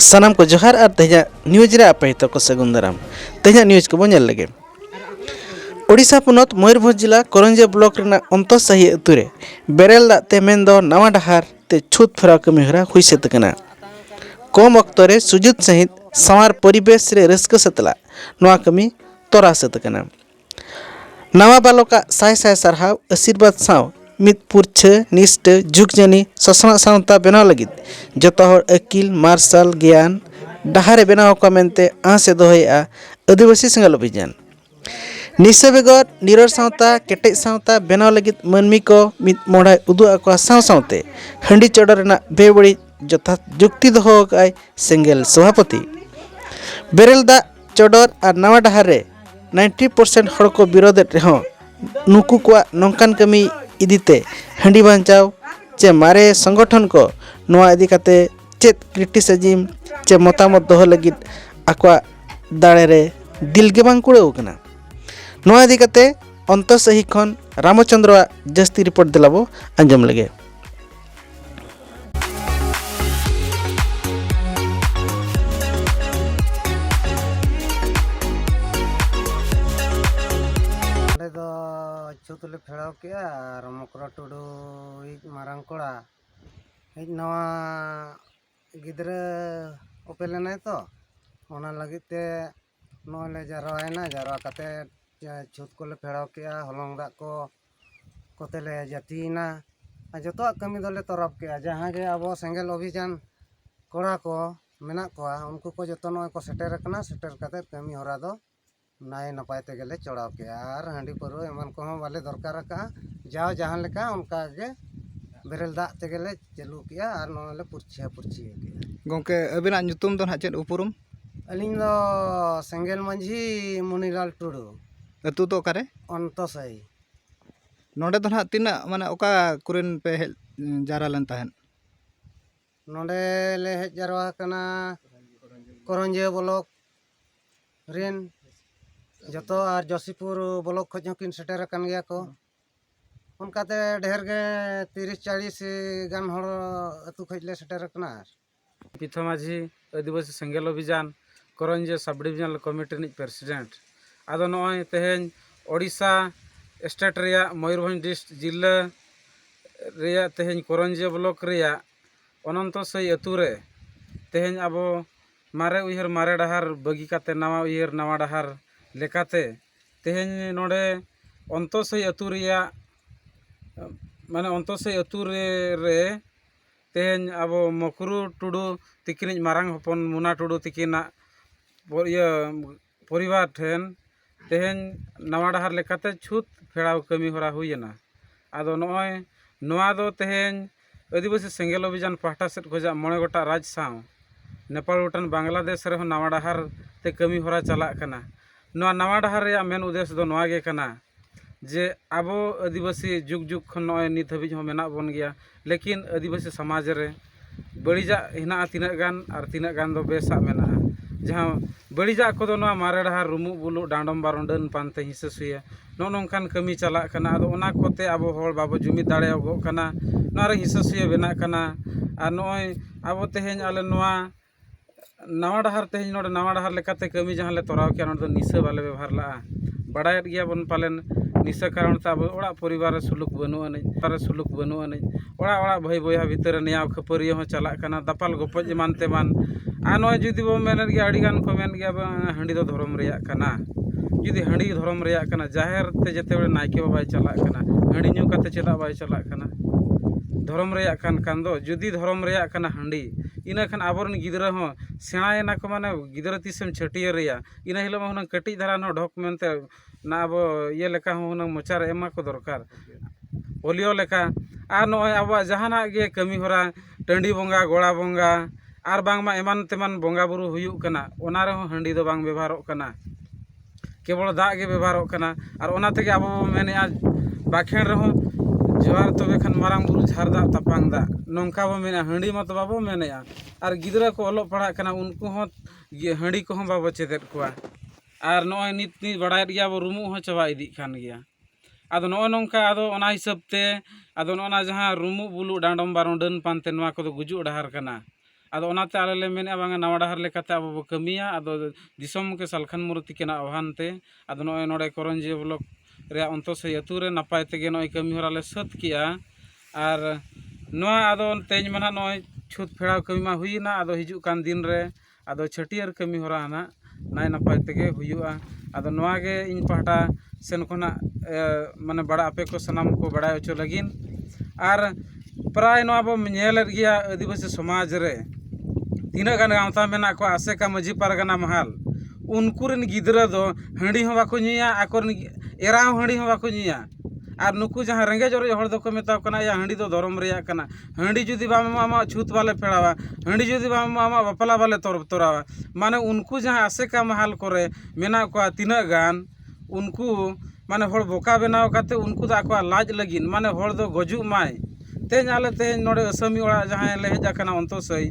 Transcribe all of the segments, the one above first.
ᱥᱟᱱᱟᱢ ᱠᱚ ᱡᱚᱦᱟᱨ ᱟᱨ ᱛᱮᱦᱮᱧᱟᱜ ᱱᱤᱭᱩᱡᱽ ᱨᱮ ᱟᱯᱮ ᱦᱤᱛᱚᱜ ᱠᱚ ᱥᱟᱹᱜᱩᱱ ᱫᱟᱨᱟᱢ ᱛᱮᱦᱮᱧᱟᱜ ᱱᱤᱭᱩᱡᱽ ᱠᱚᱵᱚᱱ ᱧᱮᱞ ᱞᱮᱜᱮ ᱳᱰᱤᱥᱟ ᱯᱚᱱᱚᱛ ᱢᱚᱭᱩᱨᱵᱷᱚᱸᱡᱽ ᱡᱤᱞᱟ ᱠᱚᱨᱚᱧᱡᱤᱭᱟᱹ ᱵᱞᱚᱠ ᱨᱮᱱᱟᱜ ᱚᱱᱛᱚᱥᱟᱦᱤ ᱟᱹᱛᱩ ᱨᱮ ᱵᱮᱨᱮᱞ ᱫᱟᱜ ᱛᱮ ᱢᱮᱱᱫᱚ ᱱᱟᱣᱟ ᱰᱟᱦᱟᱨ ᱛᱮ ᱪᱷᱩᱛ ᱯᱷᱮᱨᱟᱣ ᱠᱟᱹᱢᱤᱦᱚᱨᱟ ᱦᱩᱭ ᱥᱟᱹᱛ ᱟᱠᱟᱱᱟ ᱠᱚᱢ ᱚᱠᱛᱚ ᱨᱮ ᱥᱩᱡᱩᱛ ᱥᱟᱺᱦᱤᱡ ᱥᱟᱶᱟᱨ ᱯᱚᱨᱤᱵᱮᱥ ᱨᱮ ᱨᱟᱹᱥᱠᱟᱹ ᱥᱟᱛᱞᱟᱜ ᱱᱚᱣᱟ ᱠᱟᱹᱢᱤ ᱛᱚᱨᱟ ᱥᱟᱹᱛ ᱟᱠᱟᱱᱟ ᱱᱟᱣᱟ ᱵᱟᱞᱚᱠ ᱟᱜ ᱥᱟᱭ ᱥᱟᱭ ᱥᱟᱨᱦᱟᱣ ᱟᱥᱤᱨᱵᱟᱫᱽ ᱥᱟᱶ ᱢᱤᱫ ᱯᱩᱨᱪᱷᱟᱹ ᱱᱤᱥᱴᱟᱹ ᱡᱩᱜᱽ ᱡᱟᱹᱱᱤ ᱥᱚᱥᱱᱚᱜ ᱥᱟᱶᱛᱟ ᱵᱮᱱᱟᱣ ᱞᱟᱹᱜᱤᱫ ᱡᱚᱛᱚ ᱦᱚᱲ ᱟᱹᱠᱤᱞ ᱢᱟᱨᱥᱟᱞ ᱜᱮᱭᱟᱱ ᱰᱟᱦᱟᱨᱮ ᱵᱮᱱᱟᱣ ᱟᱠᱚᱣᱟ ᱢᱮᱱᱛᱮ ᱟᱸᱥ ᱮ ᱫᱚᱦᱚᱭᱮᱫᱼᱟ ᱟᱹᱫᱤᱵᱟᱹᱥᱤ ᱥᱮᱸᱜᱮᱞ ᱚᱵᱷᱤᱡᱟᱱ ᱱᱤᱥᱟᱹ ᱵᱮᱜᱚᱨ ᱱᱤᱨᱚᱲ ᱥᱟᱶᱛᱟ ᱠᱮᱴᱮᱡ ᱥᱟᱶᱛᱟ ᱵᱮᱱᱟᱣ ᱞᱟᱹᱜᱤᱫ ᱢᱟᱹᱱᱢᱤ ᱠᱚ ᱢᱤᱫ ᱢᱚᱦᱰᱟᱭ ᱩᱫᱩᱜ ᱟᱫ ᱠᱚᱣᱟ ᱥᱟᱶ ᱥᱟᱶᱛᱮ ᱦᱟᱺᱰᱤ ᱪᱚᱰᱚᱨ ᱨᱮᱱᱟᱜ ᱵᱮᱵᱟᱹᱲᱤᱡ ᱡᱚᱛᱷᱟᱛ ᱡᱩᱠᱛᱤ ᱫᱚᱦᱚ ᱟᱠᱟᱫ ᱟᱭ ᱥᱮᱸᱜᱮᱞ ᱥᱚᱵᱷᱟᱯᱚᱛᱤ ᱵᱮᱨᱮᱞ ᱫᱟᱜ ᱪᱚᱰᱚᱨ ᱟᱨ ᱱᱟᱣᱟ ᱰᱟᱦᱟᱨ ᱨᱮ ᱱᱟᱭᱤᱱᱴᱤ ᱯᱟᱨᱥᱮᱱᱴ ᱦᱚᱲ ᱠᱚ ᱵᱤᱨᱳᱫᱮᱜ ᱨᱮᱦᱚᱸ ᱱᱩᱠᱩ ᱠᱚᱣᱟᱜ ᱱᱚᱝᱠᱟᱱ ᱠᱟᱹᱢᱤ ᱤᱫᱤ ᱛᱮ ᱦᱟᱺᱰᱤ ᱵᱟᱧᱪᱟᱣ ᱪᱮ ᱢᱟᱨᱮ ᱥᱚᱝᱜᱚᱴᱷᱚᱱ ᱠᱚ ᱱᱚᱣᱟ ᱤᱫᱤ ᱠᱟᱛᱮ ᱪᱮᱫ ᱠᱨᱤᱴᱤᱥᱤᱡᱤᱢ ᱪᱮ ᱢᱚᱛᱟᱢᱚᱛ ᱫᱚᱦᱚ ᱞᱟᱹᱜᱤᱫ ᱟᱠᱚᱣᱟᱜ ᱫᱟᱲᱮ ᱨᱮ ᱫᱤᱞ ᱜᱮ ᱵᱟᱝ ᱠᱩᱲᱟᱹᱣ ᱠᱟᱱᱟ ᱱᱚᱣᱟ ᱤᱫᱤ ᱠᱟᱛᱮ ᱚᱱᱛᱚᱨ ᱥᱟᱹᱦᱤ ᱠᱷᱚᱱ ᱨᱟᱢᱚ ᱪᱚᱱᱫᱨᱚ ᱟᱜ ᱡᱟᱹᱥᱛᱤ ᱨᱤᱯᱳᱨᱴ ᱫᱮᱞᱟ ᱵᱚ ᱟᱸᱡᱚᱢ ᱞᱮᱜᱮ ᱪᱷᱩᱛ ᱞᱮ ᱯᱷᱮᱲᱟᱣ ᱠᱮᱜᱼᱟ ᱟᱨ ᱢᱚᱠᱨᱟ ᱴᱩᱰᱩᱭᱤᱡ ᱢᱟᱨᱟᱝ ᱠᱚᱲᱟ ᱤᱡ ᱱᱟᱣᱟ ᱜᱤᱫᱽᱨᱟᱹ ᱚᱯᱮᱞ ᱮᱱᱟᱭ ᱛᱚ ᱚᱱᱟ ᱞᱟᱹᱜᱤᱫ ᱛᱮ ᱱᱚᱜᱼᱚᱭ ᱞᱮ ᱡᱟᱣᱨᱟᱭᱮᱱᱟ ᱡᱟᱣᱨᱟ ᱠᱟᱛᱮ ᱪᱷᱩᱸᱛ ᱠᱚᱞᱮ ᱯᱷᱮᱲᱟᱣ ᱠᱮᱜᱼᱟ ᱦᱚᱞᱚᱝ ᱫᱟᱜ ᱠᱚ ᱠᱚᱛᱮ ᱞᱮ ᱡᱟᱹᱛᱤᱭᱮᱱᱟ ᱟᱨ ᱡᱚᱛᱚᱣᱟᱜ ᱠᱟᱹᱢᱤ ᱫᱚᱞᱮ ᱛᱚᱨᱟᱯ ᱠᱮᱜᱼᱟ ᱡᱟᱦᱟᱸ ᱜᱮ ᱟᱵᱚ ᱥᱮᱸᱜᱮᱞ ᱚᱵᱷᱤᱡᱟᱱ ᱠᱚᱲᱟ ᱠᱚ ᱢᱮᱱᱟᱜ ᱠᱚᱣᱟ ᱩᱱᱠᱩ ᱠᱚ ᱡᱚᱛᱚ ᱱᱚᱜᱼᱚᱭ ᱠᱚ ᱥᱮᱴᱮᱨ ᱟᱠᱟᱱᱟ ᱥᱮᱴᱮᱨ ᱠᱟᱛᱮ ᱠᱟᱹᱢᱤ ᱦᱚᱨᱟ ᱫᱚ ᱱᱟᱭ ᱱᱟᱯᱟᱭ ᱛᱮᱜᱮ ᱞᱮ ᱪᱚᱲᱟᱣ ᱠᱮᱜᱼᱟ ᱟᱨ ᱦᱟᱺᱰᱤ ᱯᱟᱹᱣᱨᱟᱹ ᱮᱢᱟᱱ ᱠᱚᱦᱚᱸ ᱵᱟᱞᱮ ᱫᱚᱨᱠᱟᱨ ᱠᱟᱜᱼᱟ ᱡᱟᱣ ᱡᱟᱦᱟᱸ ᱞᱮᱠᱟ ᱚᱱᱠᱟ ᱜᱮ ᱵᱮᱨᱮᱞ ᱫᱟᱜ ᱛᱮᱜᱮ ᱞᱮ ᱪᱟᱹᱞᱩ ᱠᱮᱜᱼᱟ ᱟᱨ ᱱᱚᱜᱼᱚᱭ ᱞᱮ ᱯᱷᱩᱨᱪᱷᱟᱹ ᱯᱷᱩᱨᱪᱷᱤ ᱠᱮᱜᱼᱟ ᱜᱚᱢᱠᱮ ᱟᱹᱵᱤᱱᱟᱜ ᱧᱩᱛᱩᱢ ᱫᱚ ᱦᱟᱸᱜ ᱪᱮᱫ ᱩᱯᱨᱩᱢ ᱟᱹᱞᱤᱧ ᱫᱚ ᱥᱮᱸᱜᱮᱞ ᱢᱟᱹᱡᱷᱤ ᱢᱩᱱᱤᱞᱟᱞ ᱴᱩᱰᱩ ᱟᱹᱛᱩ ᱫᱚ ᱚᱠᱟᱨᱮ ᱚᱱᱛᱚ ᱥᱟᱹᱭ ᱱᱚᱰᱮ ᱫᱚ ᱱᱟᱦᱟᱜ ᱛᱤᱱᱟᱹᱜ ᱢᱟᱱᱮ ᱚᱠᱟ ᱠᱚᱨᱮᱱ ᱯᱮ ᱦᱮᱡ ᱡᱟᱣᱨᱟ ᱞᱮᱱ ᱛᱟᱦᱮᱸᱫ ᱱᱚᱰᱮ ᱞᱮ ᱦᱮᱡ ᱡᱟᱣᱨᱟ ᱟᱠᱟᱱᱟ ᱠᱚᱨᱚᱱᱡᱤᱭᱟᱹ ᱵᱚᱞᱚᱠ ᱨᱮᱱ ᱡᱚᱛᱚ ᱟᱨ ᱡᱚᱥᱤᱯᱩᱨ ᱵᱚᱞᱚᱠ ᱠᱷᱚᱱ ᱦᱚᱸᱠᱤᱱ ᱥᱮᱴᱮᱨ ᱟᱠᱟᱱ ᱜᱮᱭᱟ ᱠᱚ ᱚᱱᱠᱟᱛᱮ ᱰᱷᱮᱨ ᱜᱮ ᱛᱤᱨᱤᱥ ᱪᱟᱞᱤᱥ ᱜᱟᱱ ᱦᱚᱲ ᱟᱹᱛᱩ ᱠᱷᱚᱱ ᱞᱮ ᱥᱮᱴᱮᱨ ᱟᱠᱟᱱᱟ ᱯᱤᱛᱷᱚ ᱢᱟᱹᱡᱷᱤ ᱟᱹᱫᱤᱵᱟᱹᱥᱤ ᱥᱮᱸᱜᱮᱞ ᱚᱵᱷᱤᱡᱟᱱ ᱠᱚᱨᱚᱧᱡᱤᱭᱟᱹ ᱥᱟᱵᱽ ᱰᱤᱵᱷᱤᱡᱚᱱᱟᱞ ᱠᱚᱢᱤᱴᱤ ᱨᱤᱱᱤᱡ ᱯᱨᱮᱥᱤᱰᱮᱱᱴ ᱟᱫᱚ ᱱᱚᱜᱼᱚᱭ ᱛᱮᱦᱮᱧ ᱳᱰᱤᱥᱟ ᱥᱴᱮᱴ ᱨᱮᱭᱟᱜ ᱢᱚᱭᱩᱨᱵᱷᱚᱸᱡᱽ ᱰᱤᱥᱴ ᱡᱤᱞᱟᱹ ᱨᱮᱭᱟᱜ ᱛᱮᱦᱮᱧ ᱠᱚᱨᱚᱧᱡᱤᱭᱟᱹ ᱵᱞᱚᱠ ᱨᱮᱭᱟᱜ ᱚᱱᱚᱱᱛᱚ ᱥᱟᱹᱭ ᱟᱹᱛᱩ ᱨᱮ ᱛᱮᱦᱮᱧ ᱟᱵᱚ ᱢᱟᱨᱮ ᱩᱭᱦᱟᱹᱨ ᱢᱟᱨᱮ ᱰᱟᱦᱟᱨ ᱵᱟᱹᱜᱤ ᱠᱟᱛᱮ ᱱᱟᱣᱟ ᱩᱭᱦᱟᱹᱨ ᱱᱟᱣᱟ ᱰᱟᱦᱟᱨ ᱞᱮᱠᱟᱛᱮ ᱛᱮᱦᱮᱧ ᱱᱚᱰᱮ ᱚᱱᱛᱚ ᱥᱟᱹᱭ ᱟᱹᱛᱩ ᱨᱮᱭᱟᱜ ᱢᱟᱱᱮ ᱚᱱᱛᱚ ᱥᱟᱹᱭ ᱟᱹᱛᱩ ᱨᱮ ᱛᱮᱦᱮᱧ ᱟᱵᱚ ᱢᱚᱠᱨᱩ ᱴᱩᱰᱩ ᱛᱤᱠᱤᱱᱤᱡ ᱢᱟᱨᱟᱝ ᱦᱚᱯᱚᱱ ᱢᱳᱱᱟ ᱴᱩᱰᱩ ᱛᱤᱠᱤᱱᱟᱜ ᱤᱭᱟᱹ ᱯᱚᱨᱤᱵᱟᱨ ᱴᱷᱮᱱ ᱛᱮᱦᱮᱧ ᱱᱟᱣᱟ ᱰᱟᱦᱟᱨ ᱞᱮᱠᱟᱛᱮ ᱪᱷᱩᱸᱛ ᱯᱷᱮᱲᱟᱣ ᱠᱟᱹᱢᱤ ᱦᱚᱨᱟ ᱦᱩᱭᱮᱱᱟ ᱟᱫᱚ ᱱᱚᱜᱼᱚᱭ ᱱᱚᱣᱟ ᱫᱚ ᱛᱮᱦᱮᱧ ᱟᱹᱫᱤᱵᱟᱹᱥᱤ ᱥᱮᱸᱜᱮᱞ ᱚᱵᱷᱤᱡᱟᱱ ᱯᱟᱦᱴᱟ ᱥᱮᱫ ᱠᱷᱚᱱᱟᱜ ᱢᱚᱬᱮ ᱜᱚᱴᱟᱝ ᱨᱟᱡᱽ ᱥᱟᱶ ᱱᱮᱯᱟᱞ ᱵᱷᱩᱴᱟᱱ ᱵᱟᱝᱞᱟᱫᱮᱥ ᱨᱮᱦᱚᱸ ᱱᱟᱣᱟ ᱰᱟᱦᱟᱨ ᱛᱮ ᱠᱟᱹᱢᱤ ᱦᱚᱨᱟ ᱪᱟᱞᱟᱜ ᱠᱟᱱᱟ ᱱᱚᱣᱟ ᱱᱟᱣᱟ ᱰᱟᱦᱟᱨ ᱨᱮᱭᱟᱜ ᱢᱮᱱ ᱩᱫᱮᱥ ᱫᱚ ᱱᱚᱣᱟ ᱜᱮ ᱠᱟᱱᱟ ᱡᱮ ᱟᱵᱚ ᱟᱹᱫᱤᱵᱟᱹᱥᱤ ᱡᱩᱜᱽ ᱡᱩᱜᱽ ᱠᱷᱚᱱ ᱱᱚᱜᱼᱚᱭ ᱱᱤᱛ ᱦᱟᱹᱵᱤᱡ ᱦᱚᱸ ᱢᱮᱱᱟᱜ ᱵᱚᱱ ᱜᱮᱭᱟ ᱞᱮᱠᱤᱱ ᱟᱹᱫᱤᱵᱟᱹᱥᱤ ᱥᱚᱢᱟᱡᱽ ᱨᱮ ᱵᱟᱹᱲᱤᱡᱟᱜ ᱦᱮᱱᱟᱜᱼᱟ ᱛᱤᱱᱟᱹᱜ ᱜᱟᱱ ᱟᱨ ᱛᱤᱱᱟᱹᱜ ᱜᱟᱱ ᱫᱚ ᱵᱮᱥᱟᱜ ᱢᱮᱱᱟᱜᱼᱟ ᱡᱟᱦᱟᱸ ᱵᱟᱹᱲᱤᱡᱟᱜ ᱠᱚᱫᱚ ᱱᱚᱣᱟ ᱢᱟᱨᱮ ᱰᱟᱦᱟᱨ ᱨᱩᱢᱩᱜ ᱵᱩᱞᱩᱜ ᱰᱟᱸᱰᱚᱢ ᱵᱟᱨᱚᱱ ᱰᱟᱹᱱ ᱯᱟᱱᱛᱮ ᱦᱤᱥᱟᱹ ᱥᱩᱭᱟᱹ ᱱᱚᱜᱼᱚ ᱱᱚᱝᱠᱟᱱ ᱠᱟᱹᱢᱤ ᱪᱟᱞᱟᱜ ᱠᱟᱱᱟ ᱟᱫᱚ ᱚᱱᱟ ᱠᱚᱛᱮ ᱟᱵᱚ ᱦᱚᱲ ᱵᱟᱵᱚ ᱡᱩᱢᱤᱫ ᱫᱟᱲᱮᱭᱟᱜᱚᱜ ᱠᱟᱱᱟ ᱱᱚᱣᱟ ᱨᱮ ᱦᱤᱥᱟᱹ ᱥᱩᱭᱟᱹ ᱵᱮᱱᱟᱜ ᱠᱟᱱᱟ ᱟᱨ ᱱᱚᱜᱼᱚᱭ ᱟᱵᱚ ᱛᱮᱦᱮᱧ ᱟᱞᱮ ᱱᱚᱣᱟ ᱱᱟᱣᱟ ᱰᱟᱦᱟᱨ ᱛᱮᱦᱮᱧ ᱱᱚᱰᱮ ᱱᱟᱣᱟ ᱰᱟᱦᱟᱨ ᱞᱮᱠᱟᱛᱮ ᱠᱟᱹᱢᱤ ᱡᱟᱦᱟᱸ ᱞᱮ ᱛᱚᱨᱟᱣ ᱠᱮᱜᱼᱟ ᱱᱚᱰᱮ ᱫᱚ ᱱᱤᱥᱟᱹ ᱵᱟᱞᱮ ᱵᱮᱵᱚᱦᱟᱨ ᱞᱟᱜᱼᱟ ᱵᱟᱲᱟᱭᱮᱫ ᱜᱮᱭᱟ ᱵᱚᱱ ᱯᱟᱞᱮᱱ ᱱᱤᱥᱟᱹ ᱠᱟᱨᱚᱱ ᱛᱮ ᱟᱵᱚ ᱚᱲᱟᱜ ᱯᱚᱨᱤᱵᱟᱨ ᱨᱮ ᱥᱩᱞᱩᱠ ᱵᱟᱹᱱᱩᱜ ᱟᱹᱱᱤᱡ ᱚᱠᱟᱨᱮ ᱥᱩᱞᱩᱠ ᱵᱟᱹᱱᱩᱜ ᱟᱹᱱᱤᱡ ᱚᱲᱟᱜ ᱚᱲᱟᱜ ᱵᱷᱟᱹᱭ ᱵᱚᱭᱦᱟ ᱵᱷᱤᱛᱤᱨ ᱨᱮ ᱱᱮᱭᱟᱣ ᱠᱷᱟᱹᱯᱟᱹᱨᱤ ᱦᱚᱸ ᱪᱟᱞᱟᱜ ᱠᱟᱱᱟ ᱫᱟᱯᱟᱞ ᱜᱚᱯᱚᱡ ᱮᱢᱟᱱ ᱛᱮᱢᱟᱱ ᱟᱨ ᱱᱚᱜᱼᱚᱭ ᱡᱩᱫᱤ ᱵᱚᱱ ᱢᱮᱱᱮᱫ ᱜᱮᱭᱟ ᱟᱹᱰᱤᱜᱟᱱ ᱠᱚ ᱢᱮᱱ ᱜᱮᱭᱟ ᱵᱟᱝ ᱦᱟᱺᱰᱤ ᱫᱚ ᱫᱷᱚᱨᱚᱢ ᱨᱮᱭᱟᱜ ᱠᱟᱱᱟ ᱡᱩᱫᱤ ᱦᱟᱺᱰᱤ ᱫᱷᱚᱨᱚᱢ ᱨᱮᱭᱟᱜ ᱠᱟᱱᱟ ᱡᱟᱦᱮᱨ ᱛᱮ ᱡᱮᱛᱮ ᱵᱟᱨᱮ ᱱᱟᱭᱠᱮ ᱵᱟᱵᱟᱭ ᱪᱟᱞᱟᱜ ᱠᱟᱱᱟ ᱦᱟᱺᱰᱤ ᱧᱩ ᱠᱟᱛᱮᱫ ᱪᱮᱫᱟᱜ ᱵᱟᱭ ᱪᱟᱞᱟᱜ ᱠᱟᱱᱟ ᱫᱷᱚᱨᱚᱢ ᱨᱮᱭᱟᱜ ᱠᱟᱱ ᱠᱷᱟᱱ ᱫᱚ ᱡᱩᱫᱤ ᱫᱷᱚᱨᱚᱢ ᱨᱮᱭᱟᱜ ᱠᱟᱱᱟ ᱦᱟᱺᱰᱤ ᱤᱱᱟᱹ ᱠᱷᱟᱱ ᱟᱵᱚ ᱨᱮᱱ ᱜᱤᱫᱽᱨᱟᱹ ᱦᱚᱸ ᱥᱮᱬᱟᱭᱮᱱᱟ ᱠᱚ ᱢᱟᱱᱮ ᱜᱤᱫᱽᱨᱟᱹ ᱛᱤᱥᱮᱢ ᱪᱷᱟᱹᱴᱭᱟᱹᱨᱮᱭᱟ ᱤᱱᱟᱹ ᱦᱤᱞᱳᱜ ᱢᱟ ᱦᱩᱱᱟᱹᱝ ᱠᱟᱹᱴᱤᱡ ᱫᱷᱟᱨᱟ ᱦᱩᱱᱟᱹᱝ ᱰᱷᱚᱠ ᱢᱮᱱᱛᱮ ᱚᱱᱟ ᱟᱵᱚ ᱤᱭᱟᱹ ᱞᱮᱠᱟ ᱦᱚᱸ ᱦᱩᱱᱟᱹᱝ ᱢᱚᱪᱟ ᱨᱮ ᱮᱢᱟ ᱠᱚ ᱫᱚᱨᱠᱟᱨ ᱯᱳᱞᱤᱭᱳ ᱞᱮᱠᱟ ᱟᱨ ᱱᱚᱜᱼᱚᱸᱭ ᱟᱵᱚᱣᱟᱜ ᱡᱟᱦᱟᱱᱟᱜ ᱜᱮ ᱠᱟᱹᱢᱤ ᱦᱚᱨᱟ ᱴᱟᱺᱰᱤ ᱵᱚᱸᱜᱟ ᱜᱚᱲᱟ ᱵᱚᱸᱜᱟ ᱟᱨ ᱵᱟᱝᱢᱟ ᱮᱢᱟᱱ ᱛᱮᱢᱟᱱ ᱵᱚᱸᱜᱟᱼᱵᱩᱨᱩ ᱦᱩᱭᱩᱜ ᱠᱟᱱᱟ ᱚᱱᱟ ᱨᱮᱦᱚᱸ ᱦᱟᱺᱰᱤ ᱫᱚ ᱵᱟᱝ ᱵᱮᱵᱚᱦᱟᱨᱚᱜ ᱠᱟᱱᱟ ᱠᱮᱵᱚᱞ ᱫᱟᱜ ᱜᱮ ᱵᱮᱵᱚᱦᱟᱨᱚᱜ ᱠᱟᱱᱟ ᱟᱨ ᱚᱱᱟ ᱛᱮᱜᱮ ᱟᱵᱚ ᱵᱚᱱ ᱢᱮᱱᱮᱫᱼᱟ ᱵᱟᱸᱠᱷᱮᱬ ᱨᱮᱦᱚᱸ ᱡᱚᱦᱟᱨ ᱛᱚᱵᱮ ᱠᱷᱟᱱ ᱢᱟᱨᱟᱝ ᱵᱩᱨᱩ ᱡᱷᱟᱨ ᱫᱟᱜ ᱛᱟᱯᱟᱱ ᱫᱟᱜ ᱱᱚᱝᱠᱟ ᱵᱚᱱ ᱢᱮᱱᱟ ᱦᱟᱺᱰᱤ ᱢᱟᱛᱚ ᱵᱟᱵᱚᱱ ᱢᱮᱱᱮᱫᱼᱟ ᱟᱨ ᱜᱤᱫᱽᱨᱟᱹ ᱠᱚ ᱚᱞᱚᱜ ᱯᱟᱲᱦᱟᱜ ᱠᱟᱱᱟ ᱩᱱᱠᱩ ᱦᱚᱸ ᱦᱟᱺᱰᱤ ᱠᱚᱦᱚᱸ ᱵᱟᱵᱚ ᱪᱮᱫᱮᱫ ᱠᱚᱣᱟ ᱟᱨ ᱱᱚᱜᱼᱚᱭ ᱱᱤᱛ ᱱᱤᱛ ᱵᱟᱲᱟᱭᱮᱫ ᱜᱮᱭᱟ ᱵᱚᱱ ᱨᱩᱢᱩᱜ ᱦᱚᱸ ᱪᱟᱵᱟ ᱤᱫᱤᱜ ᱠᱟᱱ ᱜᱮᱭᱟ ᱟᱫᱚ ᱱᱚᱜᱼᱚ ᱱᱚᱝᱠᱟ ᱟᱫᱚ ᱚᱱᱟ ᱦᱤᱥᱟᱹᱵ ᱛᱮ ᱟᱫᱚ ᱱᱚᱜᱼᱚ ᱱᱟ ᱡᱟᱦᱟᱸ ᱨᱩᱢᱩᱜ ᱵᱩᱞᱩᱜ ᱰᱟᱸᱰᱚᱢ ᱵᱟᱨᱚ ᱰᱟᱹᱱ ᱯᱟᱱᱛᱮ ᱱᱚᱣᱟ ᱠᱚᱫᱚ ᱜᱩᱡᱩᱜ ᱰᱟᱦᱟᱨ ᱠᱟᱱᱟ ᱟᱫᱚ ᱚᱱᱟᱛᱮ ᱟᱞᱮ ᱞᱮ ᱢᱮᱱᱮᱫᱼᱟ ᱵᱟᱝᱟ ᱱᱟᱣᱟ ᱰᱟᱦᱟᱨ ᱞᱮᱠᱟᱛᱮ ᱟᱵᱚ ᱵᱚᱱ ᱠᱟᱹᱢᱤᱭᱟ ᱟᱫᱚ ᱫᱤᱥᱚᱢ ᱜᱮ ᱥᱟᱞᱠᱷᱟᱱ ᱢᱩᱨ ᱛᱤᱠᱤᱱᱟᱜ ᱟᱦᱵᱟᱱ ᱛᱮ ᱟᱫᱚ ᱱᱚᱜᱼᱚᱸᱭ ᱱᱚᱰᱮ ᱠᱚᱨᱚᱱᱡᱤᱭᱟᱹ ᱵᱞᱚᱠ ᱨᱮᱭᱟᱜ ᱚᱱᱛᱚᱥᱟᱹᱭ ᱟᱛᱳ ᱨᱮ ᱱᱟᱯᱟᱭ ᱛᱮᱜᱮ ᱱᱚᱜᱼᱚᱸᱭ ᱠᱟᱹᱢᱤ ᱦᱚᱨᱟ ᱞᱮ ᱥᱟᱹᱛ ᱠᱮᱜᱼᱟ ᱟᱨ ᱱᱚᱣᱟ ᱟᱫᱚ ᱛᱮᱦᱮᱧ ᱢᱟ ᱱᱟᱦᱟᱜ ᱱᱚᱜᱼᱚᱸᱭ ᱪᱷᱩᱸᱛ ᱯᱷᱮᱲᱟᱣ ᱠᱟᱹᱢᱤ ᱢᱟ ᱦᱩᱭᱮᱱᱟ ᱟᱫᱚ ᱦᱤᱡᱩᱜ ᱠᱟᱱ ᱫᱤᱱ ᱨᱮ ᱟᱫᱚ ᱪᱷᱟᱹᱴᱭᱟᱹᱨ ᱠᱟᱹᱢᱤ ᱦᱚᱨᱟ ᱱᱟᱦᱟᱜ ᱱᱟᱭ ᱱᱟᱯᱟᱭ ᱛᱮᱜᱮ ᱦᱩᱭᱩᱜᱼᱟ ᱟᱫᱚ ᱱᱚᱣᱟ ᱜᱮ ᱤᱧ ᱯᱟᱦᱴᱟ ᱥᱮᱱ ᱠᱷᱚᱱᱟᱜ ᱢᱟᱱᱮ ᱵᱟᱲᱟᱭ ᱟᱯᱮ ᱠᱚ ᱥᱟᱱᱟᱢ ᱠᱚ ᱵᱟᱲᱟᱭ ᱦᱚᱪᱚ ᱞᱟᱹᱜᱤᱫ ᱟᱨ ᱯᱨᱟᱭ ᱱᱚᱣᱟ ᱵᱚᱱ ᱧᱮᱞᱮᱫ ᱜᱮᱭᱟ ᱟᱹᱫᱤᱵᱟᱹᱥᱤ ᱥᱚᱢᱟᱡᱽ ᱨᱮ ᱛᱤᱱᱟᱹᱜ ᱜᱟᱱ ᱜᱟᱶᱛᱟ ᱢᱮᱱᱟᱜ ᱠᱚᱣᱟ ᱟᱥᱮᱠᱟ ᱢᱟᱹᱡᱷᱤ ᱯᱟᱨᱜᱟᱱᱟ ᱢᱟᱦᱟᱞ ᱩᱱᱠᱩ ᱨᱮᱱ ᱜᱤᱫᱽᱨᱟᱹ ᱫᱚ ᱦᱟᱺᱰᱤ ᱦᱚᱸ ᱵᱟᱠᱚ ᱧᱩᱭᱟ ᱟᱠᱚ ᱨᱮᱱ ᱮᱨᱟ ᱦᱚᱸ ᱦᱟᱺᱰᱤ ᱦᱚᱸ ᱵᱟᱠᱚ ᱧᱩᱭᱟ ᱟᱨ ᱱᱩᱠᱩ ᱡᱟᱦᱟᱸᱭ ᱨᱮᱸᱜᱮᱡ ᱚᱨᱮᱡ ᱦᱚᱲ ᱫᱚᱠᱚ ᱢᱮᱛᱟ ᱠᱚ ᱠᱟᱱᱟ ᱮᱭᱟ ᱦᱟᱺᱰᱤ ᱫᱚ ᱫᱷᱚᱨᱚᱢ ᱨᱮᱭᱟᱜ ᱠᱟᱱᱟ ᱦᱟᱺᱰᱤ ᱡᱩᱫᱤ ᱵᱟᱢ ᱮᱢᱚᱜᱼᱟ ᱟᱢᱟᱜ ᱪᱷᱩᱸᱛ ᱵᱟᱞᱮ ᱯᱷᱮᱲᱟᱣᱟ ᱦᱟᱺᱰᱤ ᱡᱩᱫᱤ ᱵᱟᱢ ᱮᱢᱚᱜᱼᱟ ᱟᱢᱟᱜ ᱵᱟᱯᱞᱟ ᱵᱟᱞᱮ ᱛᱚᱞ ᱛᱚᱨᱟᱣᱟ ᱢᱟᱱᱮ ᱩᱱᱠᱩ ᱡᱟᱦᱟᱸ ᱟᱥᱮᱠᱟ ᱢᱟᱦᱟᱞ ᱠᱚᱨᱮᱜ ᱢᱮᱱᱟᱜ ᱠᱚᱣᱟ ᱛᱤᱱᱟᱹᱜ ᱜᱟᱱ ᱩᱱᱠᱩ ᱢᱟᱱᱮ ᱦᱚᱲ ᱵᱚᱠᱟ ᱵᱮᱱᱟᱣ ᱠᱟᱛᱮ ᱩᱱᱠᱩ ᱫᱚ ᱟᱠᱚᱣᱟᱜ ᱞᱟᱡ ᱞᱟᱹᱜᱤᱫ ᱢᱟᱱᱮ ᱦᱚᱲ ᱫᱚ ᱜᱩᱡᱩᱜ ᱢᱟᱭ ᱛᱮᱦᱮᱧ ᱟᱞᱮ ᱛᱮᱦᱮᱧ ᱱᱚᱰᱮ ᱟᱹᱥᱟᱹᱢᱤ ᱚᱲᱟᱜ ᱡᱟᱦᱟᱸᱭ ᱞᱮ ᱦᱮᱡ ᱠᱟᱱᱟ ᱚᱱᱛᱚᱥᱟᱹᱭ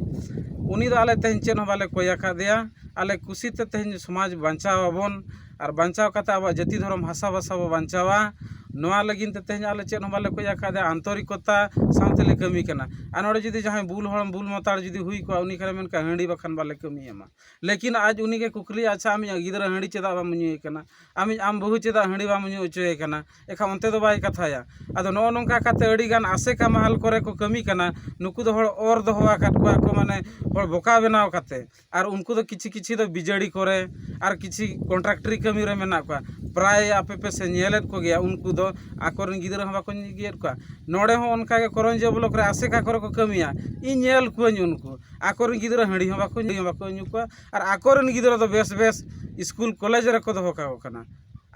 ᱩᱱᱤ ᱫᱚ ᱟᱞᱮ ᱛᱮᱦᱮᱧ ᱪᱮᱫ ᱦᱚᱸ ᱵᱟᱞᱮ ᱠᱚᱭ ᱟᱠᱟᱫᱮᱭᱟ ᱟᱞᱮ ᱠᱩᱥᱤᱛᱮ ᱛᱮᱦᱮᱧ ᱥᱚᱢᱟᱡᱽ ᱵᱟᱧᱪᱟᱣ ᱟᱵᱚᱱ ᱟᱨ ᱵᱟᱧᱪᱟᱣ ᱠᱟᱛᱮᱫ ᱟᱵᱚᱣᱟᱜ ᱡᱟᱹᱛᱤ ᱫᱷᱚᱨᱚᱢ ᱦᱟᱥᱟ ᱵᱷᱟᱥᱟ ᱵᱚᱱ ᱵᱟᱧᱪᱟᱣᱟ ᱱᱚᱣᱟ ᱞᱟᱹᱜᱤᱫ ᱛᱮ ᱛᱮᱦᱮᱧ ᱟᱞᱮ ᱪᱮᱫ ᱦᱚᱸ ᱵᱟᱞᱮ ᱠᱷᱚᱡᱽ ᱟᱠᱟᱫᱟ ᱟᱱᱛᱚᱨᱤᱠᱚᱛᱟ ᱥᱟᱶ ᱛᱮᱞᱮ ᱠᱟᱹᱢᱤ ᱠᱟᱱᱟ ᱟᱨ ᱱᱚᱰᱮ ᱡᱩᱫᱤ ᱡᱟᱦᱟᱸᱭ ᱵᱩᱞ ᱦᱚᱲ ᱵᱩᱞ ᱢᱟᱛᱟᱞ ᱡᱩᱫᱤ ᱦᱩᱭ ᱠᱚᱜᱼᱟ ᱩᱱᱤ ᱠᱷᱟᱱᱮ ᱢᱮᱱ ᱠᱮᱭᱟ ᱦᱟᱺᱰᱤ ᱵᱟᱠᱷᱟᱱ ᱵᱟᱞᱮ ᱠᱟᱹᱢᱤ ᱮᱢᱟ ᱞᱮᱠᱤᱱ ᱟᱡ ᱩᱱᱤ ᱜᱮ ᱠᱩᱠᱞᱤᱭᱟ ᱟᱪᱪᱷᱟ ᱟᱢᱤᱡ ᱜᱤᱫᱽᱨᱟᱹ ᱦᱟᱺᱰᱤ ᱪᱮᱫᱟᱜ ᱵᱟᱢ ᱧᱩᱭᱮ ᱠᱟᱱᱟ ᱟᱢᱤᱡ ᱟᱢ ᱵᱟᱹᱦᱩ ᱪᱮᱫᱟᱜ ᱦᱟᱺᱰᱤ ᱵᱟᱢ ᱧᱩ ᱦᱚᱪᱚᱭᱮ ᱠᱟᱱᱟ ᱮᱱᱠᱷᱟᱱ ᱚᱱᱛᱮ ᱫᱚ ᱵᱟᱭ ᱠᱟᱛᱷᱟᱭᱟ ᱟᱫᱚ ᱱᱚᱜᱼᱚᱸᱭ ᱱᱚᱝᱠᱟ ᱠᱟᱛᱮᱫ ᱟᱹᱰᱤ ᱜᱟᱱ ᱟᱥᱮᱠᱟ ᱢᱟᱦᱟᱞ ᱠᱚᱨᱮ ᱠᱚ ᱠᱟᱹᱢᱤ ᱠᱟᱱᱟ ᱱᱩᱠᱩ ᱫᱚ ᱦᱚᱲ ᱚᱨ ᱫᱚᱦᱚ ᱟᱠᱟᱫ ᱠᱚᱣᱟ ᱠᱚ ᱢᱟᱱᱮ ᱦᱚᱲ ᱵᱚᱠᱟ ᱵᱮᱱᱟᱣ ᱠᱟᱛᱮᱫ ᱟᱨ ᱩᱱᱠᱩ ᱫᱚ ᱠᱤᱪᱷᱩ ᱠᱤᱪᱷᱩ ᱫᱚ ᱵᱤᱡᱟᱹᱲᱤ ᱠᱚᱨᱮ ᱟᱨ ᱠᱤᱪᱷᱩ ᱠᱚᱱᱴᱨᱟᱠᱴᱟᱨᱤ ᱠᱟᱹᱢᱤ ᱨᱮ ᱢᱮᱱᱟᱜ ᱠᱚᱣᱟ ᱯᱨᱟᱭ ᱟᱯᱮ ᱯᱮ ᱧᱮᱞᱮᱫ ᱠᱚᱜᱮᱭᱟ ᱩᱱᱠᱩ ᱫᱚ ᱟᱠᱚ ᱨᱮᱱ ᱜᱤᱫᱽᱨᱟᱹ ᱦᱚᱸ ᱵᱟᱠᱚ ᱤᱫᱤᱭᱮᱫ ᱠᱚᱣᱟ ᱱᱚᱰᱮ ᱦᱚᱸ ᱚᱱᱠᱟ ᱜᱮ ᱠᱚᱨᱚᱱᱡᱤᱭᱟᱹ ᱵᱞᱚᱠ ᱨᱮ ᱟᱥᱮᱠᱟ ᱠᱚᱨᱮ ᱠᱚ ᱠᱟᱹᱢᱤᱭᱟ ᱤᱧ ᱧᱮᱞ ᱠᱚᱣᱟᱧ ᱩᱱᱠᱩ ᱟᱠᱚ ᱨᱮᱱ ᱜᱤᱫᱽᱨᱟᱹ ᱦᱟᱺᱰᱤ ᱦᱚᱸ ᱵᱟᱠᱚ ᱧᱩᱭᱟ ᱵᱟᱠᱚ ᱧᱩ ᱠᱚᱣᱟ ᱟᱨ ᱟᱠᱚ ᱨᱮᱱ ᱜᱤᱫᱽᱨᱟᱹ ᱫᱚ ᱵᱮᱥ ᱵᱮᱥ ᱥᱠᱩᱞ ᱠᱚᱞᱮᱡᱽ ᱨᱮᱠᱚ ᱫᱚᱦᱚ ᱠᱟᱠᱚ ᱠᱟᱱᱟ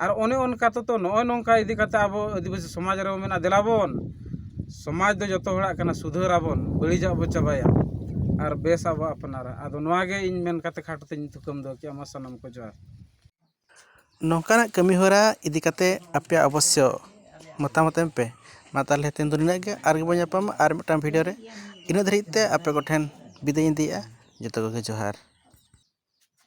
ᱟᱨ ᱚᱱᱮ ᱚᱱᱠᱟ ᱛᱮᱫᱚ ᱱᱚᱜᱼᱚᱭ ᱱᱚᱝᱠᱟ ᱤᱫᱤ ᱠᱟᱛᱮᱫ ᱟᱵᱚ ᱟᱹᱫᱤᱵᱟᱹᱥᱤ ᱥᱚᱢᱟᱡᱽ ᱨᱮᱵᱚᱱ ᱢᱮᱱᱟ ᱫᱮᱞᱟ ᱵᱚᱱ ᱥᱚᱢᱟᱡᱽ ᱫᱚ ᱡᱚᱛᱚ ᱦᱚᱲᱟᱜ ᱠᱟᱱᱟ ᱥᱩᱫᱷᱟᱹᱨ ᱟᱵᱚᱱ ᱵᱟᱹᱲᱤᱡᱟᱜ ᱵᱚᱱ ᱪᱟᱵᱟᱭᱟ ᱟᱨ ᱵᱮᱥᱟᱜ ᱵᱚᱱ ᱟᱯᱱᱟᱨᱟ ᱟᱫᱚ ᱱᱚᱣᱟᱜᱮ ᱤᱧ ᱢᱮᱱ ᱠᱟᱛᱮᱫ ᱠᱷᱟᱴᱚ ᱛᱮᱧ ᱛᱷᱩᱠᱟᱹᱢ ᱫᱚᱦᱚ ᱠᱮᱫᱼᱟ ᱢᱟ ᱥᱟᱱᱟᱢ ᱠᱚ ᱡᱚᱦᱟᱨ ᱱᱚᱝᱠᱟᱱᱟᱜ ᱠᱟᱹᱢᱤ ᱦᱚᱨᱟ ᱤᱫᱤ ᱠᱟᱛᱮᱫ ᱟᱯᱮᱭᱟᱜ ᱚᱵᱚᱥᱥᱚ ᱢᱚᱛᱟᱢᱚᱛ ᱮᱢ ᱯᱮ ᱢᱟ ᱛᱟᱦᱚᱞᱮ ᱛᱮᱦᱮᱧ ᱫᱚ ᱱᱤᱱᱟᱹᱜ ᱜᱮ ᱟᱨ ᱵᱚᱱ ᱧᱟᱯᱟᱢᱟ ᱟᱨ ᱢᱤᱫᱴᱟᱱ ᱵᱷᱤᱰᱭᱳ ᱨᱮ ᱤᱱᱟᱹᱜ ᱫᱷᱟᱹᱨᱤᱡ ᱛᱮ ᱟᱯᱮ ᱠᱚᱴᱷᱮᱱ ᱵᱤᱫᱟᱹᱭᱤᱧ ᱤᱫᱤᱭᱮᱫᱼᱟ ᱡᱚᱛᱚ ᱠᱚᱜᱮ ᱡᱚᱦᱟᱨ